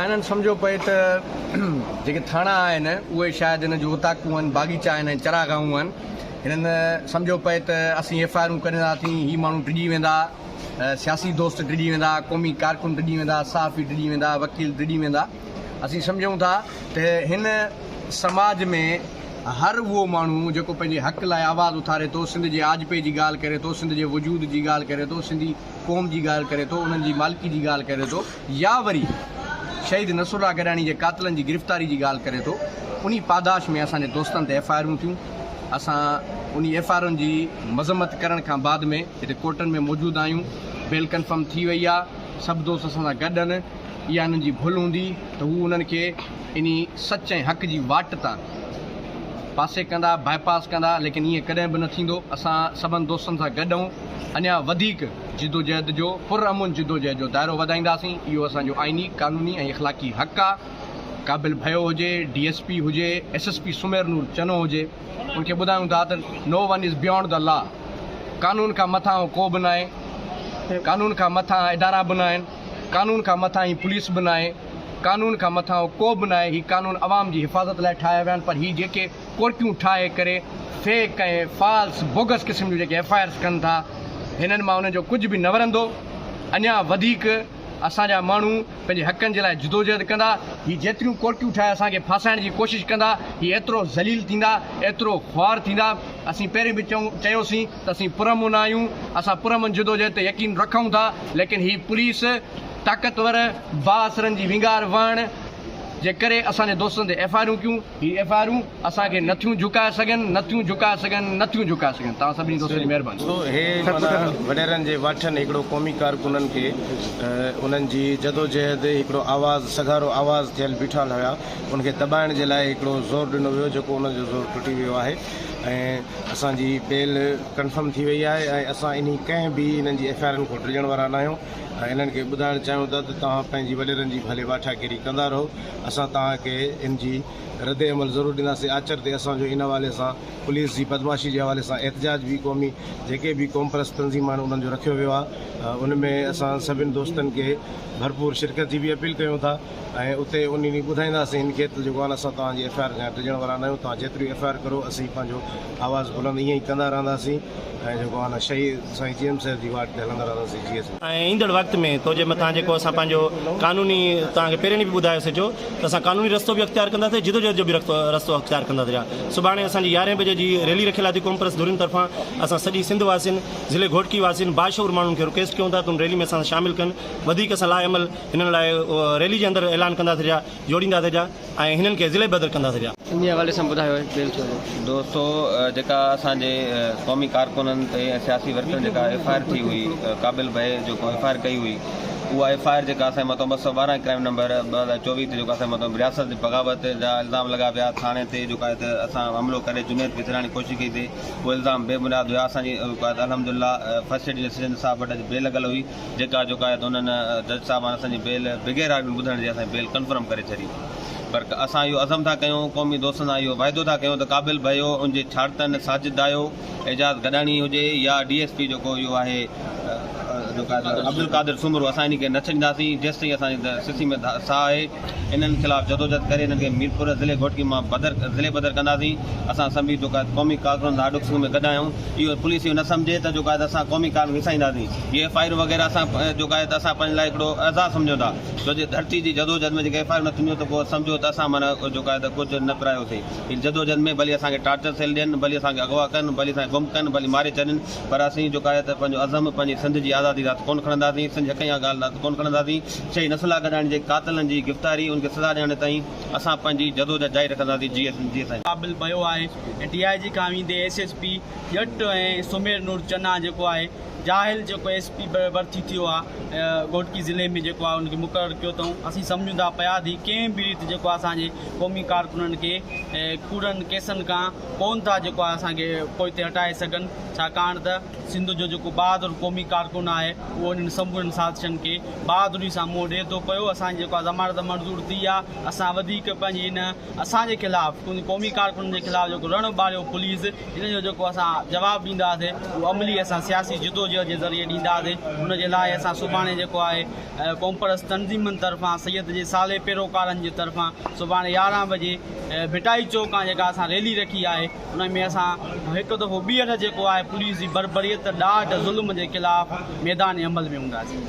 انهن سمجهيو پئي ته جيڪي ٿاڻا آهن اهي شايد هن جون اوطاقون آهن، باغيچا آهن ۽ چراگاهون آهن. هنن سمجهيو پئي ته اسين ايف آء آرون ڪڍندا ٿي هي ماڻهو ڊڄي ويندا، سياسي دوست ڊڄي ويندا، قومي ڪارڪن ڊڄي ويندا، صحافي ڊڄي ويندا، وڪيل ڊڄي ويندا. اسين سمجهون ٿا ته هن سماج ۾ هر اهو ماڻهو جيڪو پنهنجي حق لاء آواز اٿاري ٿو، سنڌ جي آجپي جي ڳالهه ڪري ٿو، سنڌ جي وجود جي ڳالهه ڪري ٿو، سنڌي قوم جي ڳالهه ڪري ٿو، انهن جي مالڪي جي ڳالهه ڪري ٿو، يا وري شهيد نصر الله گڏاڻي جي قاتلن جي گرفتاري جي ڳالهه ڪري ٿو انهي پاداش ۾ اسان جي دوستن تي ايف آء آرون ٿيون اسان انهي ايف آء آرن جي مذمت ڪرڻ کان بعد ۾ هتي ڪورٽن ۾ موجود آهيون بيل ڪنفرم ٿي وئي آهي سڀ دوست اسان سان گڏ ان اها انهن جي ڀل هوندي ته هو انهن کي انهي سچ ۽ حق جي واٽ تان پاسي ڪندا باء پاس ڪندا ليڪن ايئن ڪڏهن به نه ٿيندو اسان سڀن دوستن سان گڏ اهون اڃا وڌيڪ جدوجهد جو پرامن جدوجهد جو دائرو وڌائينداسين، اهو اسان جو آئيني، قانوني ۽ اخلاقي حق آ، قابل ڀيو هجي، ڊي ايس پي هجي، S S P Sameer Noor Channo هجي، ان کي ٻڌايون ٿا ته no one is beyond the law, قانون کان مٿانهون ڪو به ناهي، قانون کان مٿانهان ادارا به ناهن، قانون کان مٿانهين پوليس به ناهي، قانون کان مٿانهون ڪو به ناهي، هي قانون عوام جي حفاظت لاء ٺاهيا ويا آهن پر هي جيڪي ڪورٽيون ٺاهي ڪري فيڪ ۽ فالس بوگس قسم جون جيڪي ايف آء آرس ڪن ٿا هنن مان انهن جو ڪجهه به نه ورندو اڃا وڌيڪ اسان جا ماڻهو پنهنجي حقن جي لاء جدوجهد ڪندا هي جيتريون ڪورٽيون ٺاهي اسان کي ڦاسائڻ جي ڪوشش ڪندا هي ايترو ذليل ٿيندا ايترو خوار ٿيندا اسين پهرين به چيوسين ته اسين پرامن آهيون اسان پرامن جدوجهد تي يقين رکون ٿا ليڪن هي پوليس طاقتور بااثرن جي وينگار وهڻ جي ڪري اسان جي دوستن تي ايف آء آرون ڪيون هي ايف آء آرون اسان کي نه ٿيون جهڪائي سگهن، نه ٿيون جهڪائي سگهن، نه ٿيون جهڪائي سگهن. توهان سڀني دوستن جي مهرباني. سو هي معنيٰ وڏيرن جي واٺن هڪڙو قومي ڪارڪنن کي انهن جي جدوجهد هڪڙو آواز سگهارو آواز ٿيل بيٺال هيا ان کي دٻائڻ جي لاء هڪڙو زور ڏنو ويو جيڪو انهن جو زور ٽٽي ويو آهي ۽ اسان جي بيل ڪنفرم ٿي وئي آهي ۽ اسان انهي ڪنهن به انهن جي ايف آء آرن کان ڊڄڻ وارا ناهيون ۽ انهن کي ٻڌائڻ چاهيون ٿا ته توهان پنهنجي وڏيرن جي ڀلي واٺا گيري ڪندا رهو اسان توهان کي ان جي رد عمل ضرور ڏينداسين آچر تي اسان جو ان حوالي سان پوليس جي بدمعاشي جي حوالي سان احتجاج به قومي جيڪي به قومپرست تنظيمون آهن انهن جو رکيو ويو آهي ان ۾ اسان سڀني دوستن کي ڀرپور شرڪت جي به اپيل ڪيون ٿا ۽ اتي انهي ڏينهن ٻڌائينداسين ان کي ته جيڪو هاڻ اسان توهان جي ايف آء آر کان ڊڄڻ وارا ناهيون توهان جيتريون ايف آء آر ڪرو اسين پنهنجو آواز بلند ائين ئي ڪندا رهنداسين. ۽ جيڪو آن شھي سائين جي ايم صاحب جي واٽ تي ھلندا رھنداسين جي ايس. ۽ ايندڙ وقت ۾ تو جي مٿان جيڪو اسان پنهنجو قانوني توهان کي پهرين ڏينهن به ٻڌايو سي جو ته اسان قانوني رستو به اختيار ڪنداسي جدوجهد جو به رستو اختيار ڪنداسي رھيا سڀاڻي اسان جي يارهين بجي جي ريلي رکيل آھي تي قومپرست ڌرين طرفان اسان سڄي سنڌ واسين ضلعي گھوٽڪي واسين باشعور ماڻهن کي رڪيسٽ ڪيون ٿا ته ان ريلي ۾ اسان سان شامل ڪن وڌيڪ اسان لاء عمل ھنن لاء ريلي جي اندر اعلان ڪنداسي رھيا جوڙينداسين پيا ۽ هنن کي ضلعي بدر ڪنداسين پيا. انهي حوالي سان ٻڌايو اهي. دوستو جيڪا اسان جي قومي ڪارڪنن تي ۽ سياسي ورڪرن جيڪا ايف آء آر ٿي هئي قابل بهي جو ڪو ايف آء آر ڪئي هئي اها ايف آء آر جيڪا اسان جي مٿان ٻه سؤ ٻارهن ڪرائيم نمبر ٻه هزار چوويهه تي جيڪو اسان جي مٿان رياست جي بغاوت جا الزام لڳا پيا ٿاڻي تي جيڪا هت اسان حملو ڪري جنيد کي ڇڏائڻ جي ڪوشش ڪئي تي اهي الزام بي بنياد هيا اسان جي الحمد لله فرسٽ ايڊ جي سرجندر صاحب وٽ اڄ بيل لڳل هئي جيڪا جوڪا آهي ته انهن جج صاحبان اسان جي بيل بغير آرڊر ٻڌڻ جي اسان جي بيل ڪنفرم ڪري ڇڏي پر اسان اهو عزم ٿا ڪيون قومي دوستن سان اهو وعدو ٿا ڪيون ته قابل ڀائيو ان جي ڇاڙتن ساجد دايو اعجاز گڏاڻي هجي يا ڊي ايس پي جيڪو اهو آهي جوڪا عبدالقادر سومرو اسان انهن کي نه ڇڏينداسين جيستائين اسان جي سسي ۾ ساهه آهي. انهن خلاف جدوجھد ڪري انهن کي ميرپور ضلعي گھوٽڪي مان بدر ضلعي بدر ڪنداسين اسان سڀني جيڪو آهي قومي ڪارڪنن سان آڏو سنگ ۾ گڏ آهيون اهو پوليس اهو نه سمجھي ته جيڪو آهي اسان قومي ڪارڪن کي وسائينداسين جي ايف آئرون وغيره اسان جيڪو آهي ته اسان پنهنجي لاء هڪڙو اعزاز سمجھون ٿا ڇو جي ڌرتي جي جدوجھد ۾ جيڪي ايف آئرون نه ٿينديون ته پوء سمجھو ته اسان معنيٰ جيڪو آهي ته ڪجھ نه پرايوسين ان جدوجھد ۾ ڀلي اسان کي ٽارچر سيل ڏين ڀلي اسان کي اغوا ڪن ڀلي اسان کي گم ڪن ڀلي ماري ڇڏين پر اسين جيڪو آهي ته پنهنجو عزم پنهنجي سنڌ جي آزادي لاء ته ڪونه کڻنداسين، سنڌ جي حقن جا ڳالهه لاء ته ڪونه کڻنداسين، چئي نسلا گڏائڻ جي قاتلن جي گفتاري ان کي سزا ڏيارڻ تائين اسان پنهنجي جدوجهد جاري رکنداسين جي ايس جي سائين. ڪابل ڀيو آهي ۽ ڊي آء جي کان ويندي S S P Jatt ۽ Sameer نور چنا جيڪو آهي جاهل جيڪو ايس پي ڀرتي ٿيو آ گهوٽڪي ضلعي ۾ جيڪو آهي ان کي مقرر ڪيو اٿئون اسين سمجهون ٿا پيا ته هي ڪنهن به ريت جيڪو آهي اسان جي قومي ڪارڪنن کي ڪوڙن ڪيسن کان ڪونه ٿا جيڪو اسان کي پوئتي هٽائي سگهن ڇاڪاڻ ته سنڌ جو جيڪو بهادر قومي ڪارڪن آهي اهو انهن سمورن سازشن کي بهادري سان منهن ڏئي ٿو پيو اسان جي جيڪا ضمانت منظور ٿي آهي اسان وڌيڪ پنهنجي ان اسان جي خلاف قومي ڪارڪنن جي خلاف جيڪو رڻ ٻاريو پوليس ان جو جيڪو اسان جواب ڏينداسي اهو عملي اسان سياسي جدوجهد جي ذريعي ڏينداسي ان جي لاء اسان سڀاڻي جيڪو آهي قومپرست تنظيمن طرفان سيد جي صالح پيروڪارن جي طرفان سڀاڻي يارهن بجي ڀٽائي چوڪ کان جيڪا اسان ريلي رکي آهي ان ۾ اسان هڪ دفعو ٻيهر جيڪو آهي پوليس جي بربريت ڏاڍ ظلم جي خلاف ميدان عمل ۾ هونداسين.